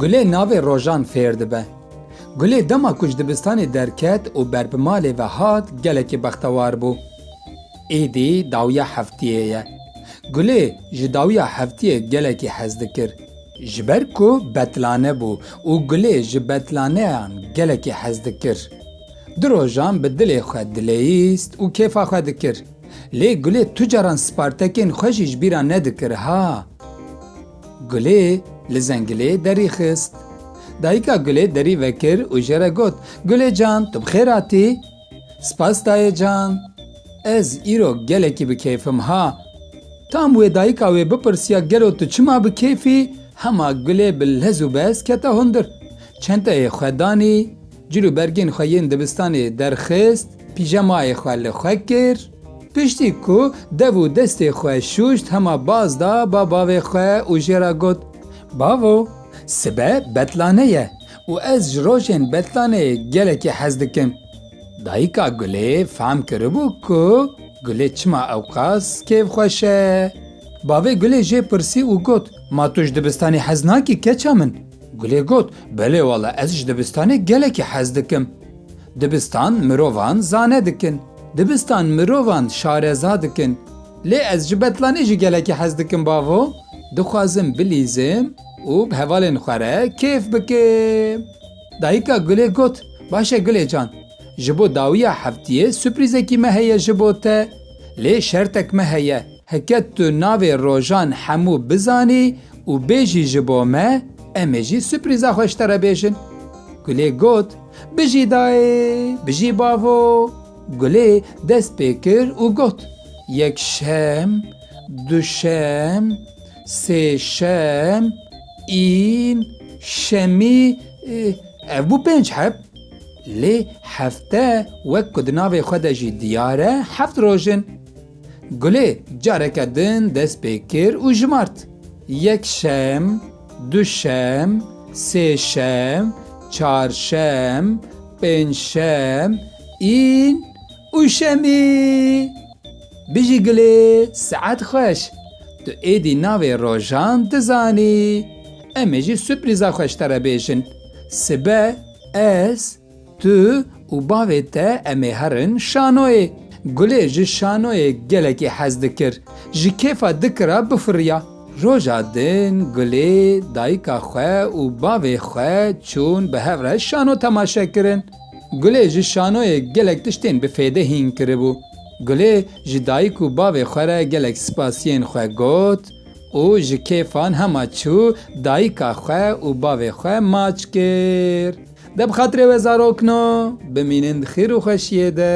Gulê navê rojan fêr dibe. Gulê dema ku ji dibistanê derket û ber bi malê ve hat gelekî bextewar bû. Êdî dawiya heftiyê ye. Gulê ji dawiya heftiyê gelekî hez dikir. Ji ber ku betlane bû û Gulê ji betlaneyan gelekî hez dikir. Di rojan bi dilê xwe dileyîst û kêfa xwe dikir. Lê Gulê tu caran spartekên xwe jî ji bîr re nedikir ha. Gulê li zengilê derî xist. Dayika Gulê derî vekir û jê re got, Gulê can tu bi xêr hatî? Spas dayê can, ez îro gelekî bi keyfim ha. Tam wê dayika wê bipirsiya gelo tu çima bi keyfî, hema gulê bi lez û bez kete hundir. Çenteyê xwe danî, cil û bergên xwe yên dibistanê derxist, pîjemayê xwe li xwe kir. Piştî ku dev û destê xwe şûşt hema baz da ba bavê xwe û jê re got, Bavo, sibe betlane ye, û ez ji rojên betlanê gelekî hez dikim. Dayika Gulê fehm kiribû ku Gulê çima ewqas kêfxweş e. Bavê Gulê jê pirsî û got, Ma tu ji dibistanê hez nakî keça min? Gulê got, Belê wala ez ji dibistanê gelekî hez dikim. Dibistan mirovan zane dikin. Dibistan mirovan şareza dikin. Lê ez ji betlanê jî gelekî hez dikim bavo, dixwazim bilîzim. Û bi hevalên xwe re kêf bike. Dayika Gulê got, Baş e Gulê can, ji bo dawiya heftiyê suprîzekî me heye ji bo te. Lê şertek me heye, heke tu navê rojan hemû bizanî û bêjî ji bo me, em ê jî suprîza xwe ji te re bêjin. Gulê got, Bijî dayê, bijî bavo. Gulê dest pê kir û got, Yek şem, du şem. Sêşem, În, Şemî, ev bû pênc heb. Lê hefte wek ku di navê xwe de jî diyar e heft roj in. Gulê careke din dest pê kir û jimart, Yekşem, duşem, sêşem, çarşem, pêncşem, în û şemî. Bijî gulê saet xweş. Tu êdî navê rojan dizanî. Em ê jî suprîza xweş te re bêjin. Sibe ez, tu û bavê te em ê herin şanoyê. Gulê ji şanoyê gelekî hez dikir. Ji kêfa dikira bifiriya. Roja din Gulê dayika xwe û bavê xwe çûn bi hev re şano temaşekirin. Gulê ji şanoyê gelek tiştên bi fêde hîn kiribû. Gulê ji dayik û bavê xwe re gelek spasiyên xwe got û ji kêfan hema çû dayika xwe û bavê xwe maç kir. De bi xatirê we zarokno bimînin di xêr û xweşiyê de.